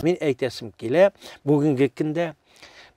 Мин әйтәсем килә, бүгенге көндә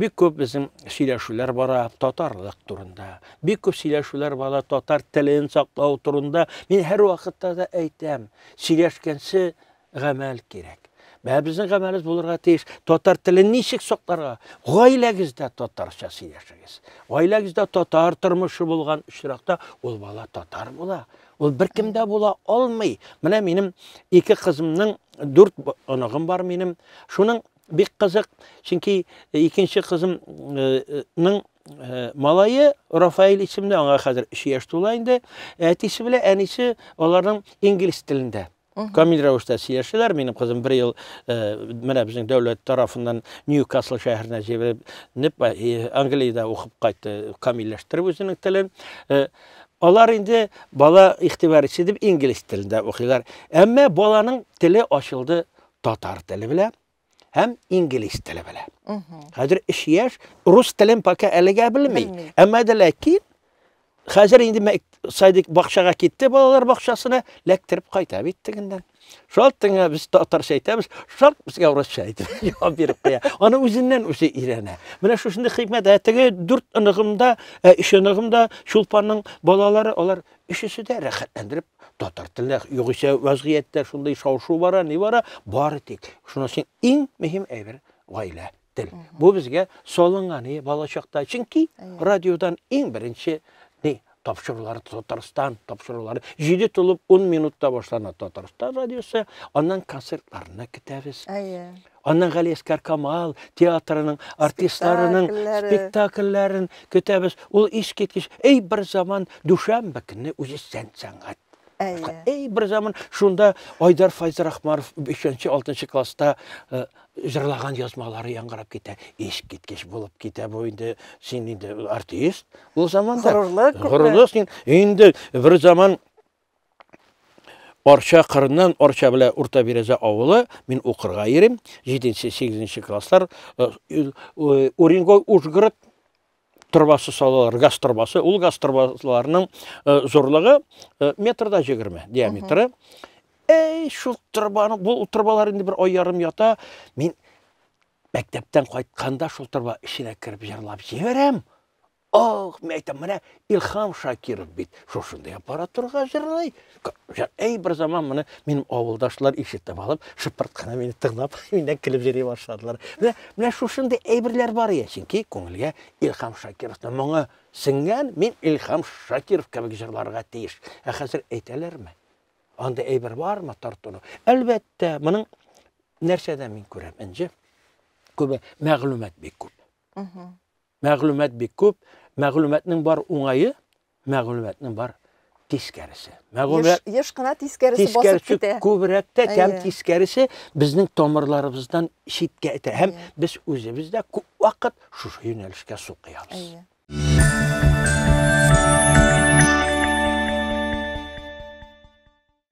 бик көп безнең сөйләшүләр бара татарлык турында бик көп сөйләшүләр бара татар телен саклау турында мин һәр вакытта да әйтәм сөйләшкәнче гамәл кирәк. Бә безнең гамәлебез булырга тиеш. Татар телен ничек сакларга? Гаиләгездә татарча сөйләшегез. Гаиләгездә татар тормышы булган очракта ул бала татар була. Ул беркемдә була алмый. Менә минем ике кызымның дүрт оныгым бар минем. Шуның бик кызык, чөнки э, икенче кызымның э, э, малае Рафаэль исемле, аңа хәзер 3 яшь тула инде. Әтисе белән әнисе аларның инглиз телендә Камил рәвештә сөйләшәләр. Минем кызым бер ел э, менә безнең дәүләт тарафыннан Ньюкасл шәһәренә җибәреп, э, Англиядә укып кайтты, камилләштереп үзенең телен. Э, алар инде бала игътибар итсен дип инглиз телендә укыйлар. Әмма баланың теле ачылды татар теле белән. һәм инглиз теле белә. Хәзер эш яш, рус телен пока әлегә белми. Әмма дә ләкин хәзер инде садик бакчага китте, балалар бакчасына ләктереп кайта бит тегеннән. Шалт тыңа без татарча әйтәбез, шалт безгә урысча әйтеп җавап биреп куя. Аны үзеннән үзе өйрәнә. Менә шушындый хикмәт, ә теге дүрт оныгымда, ә өч оныгымда Чулпанның балалары, алар өчесе дә рәхәтләндереп татар телендә югыйсә вазгыятьтә шундый шау-шу бара, ни бара, бары тик шунысы иң мөһим әйбер гаилә тел. Бу безгә салынган и балачакта. Чөнки радиодан иң беренче ни тапшырулар Татарстан тапшырулары 7 тулып 10 минутта башлана Татарстан радиосы, аннан концертларны көтәбез. Әйе. Аннан Галиәскәр Камал театрының артистларының спектакльләрен көтәбез. Ул искиткеч, әй бер заман дүшәмбе көнне үзешчән сәнгать. Әй бер заман шунда Айдар Файзрахманов 5-6 класста э, җырлаган язмалары яңгырап китә. Искиткеч булып китә бу инде. Син инде артист. Ул заманда горурлык. Горурлык син инде бер заман Арча кырыннан Арча белән Урта Бирәзә авылы. Мин укырга йөрим. 7-8 класслар э, э, Уренгой Ужгород торбасы салалар, газ торбасы. Ул газ торбаларының э, зурлыгы метрда 20 диаметры. Әй, шул торбаны, бу торбалар инде бер ай ярым ята. Мин мәктәптән кайтканда шул торба эченә кереп җырлап җибәрәм. Ох, мен әйтәм, менә Илхам Шакиров бит шушындый аппаратурага җырлый. Әй бер заман моны минем авылдашлар ишетеп алып, шыпырт кына мине тыңлап, миннән көлеп йөри башладылар. Менә менә шушындый әйберләр бар ия, чөнки күңелгә Илхам Шакировның моңы сеңгән, мин Илхам Шакиров кебек җырларга тиеш. Ә хәзер әйтәләрме? Анда әйбер бармы тартуны? Әлбәттә, моның нәрсәдә мин күрәм, Энҗе? Күбе мәгълүмат бик күп. Мәгълүмат бик күп, мәгълүматның бар уңае, мәгълүматның бар тискәресе. Мәгълүмат еш, еш кына тискәресе, тискәресе басып китә. Күбрәк тә кәм тискәресе безнең тамырларыбыздан читкә итә. Һәм без үзебез дә күп вакыт шушы юнәлешкә су куябыз.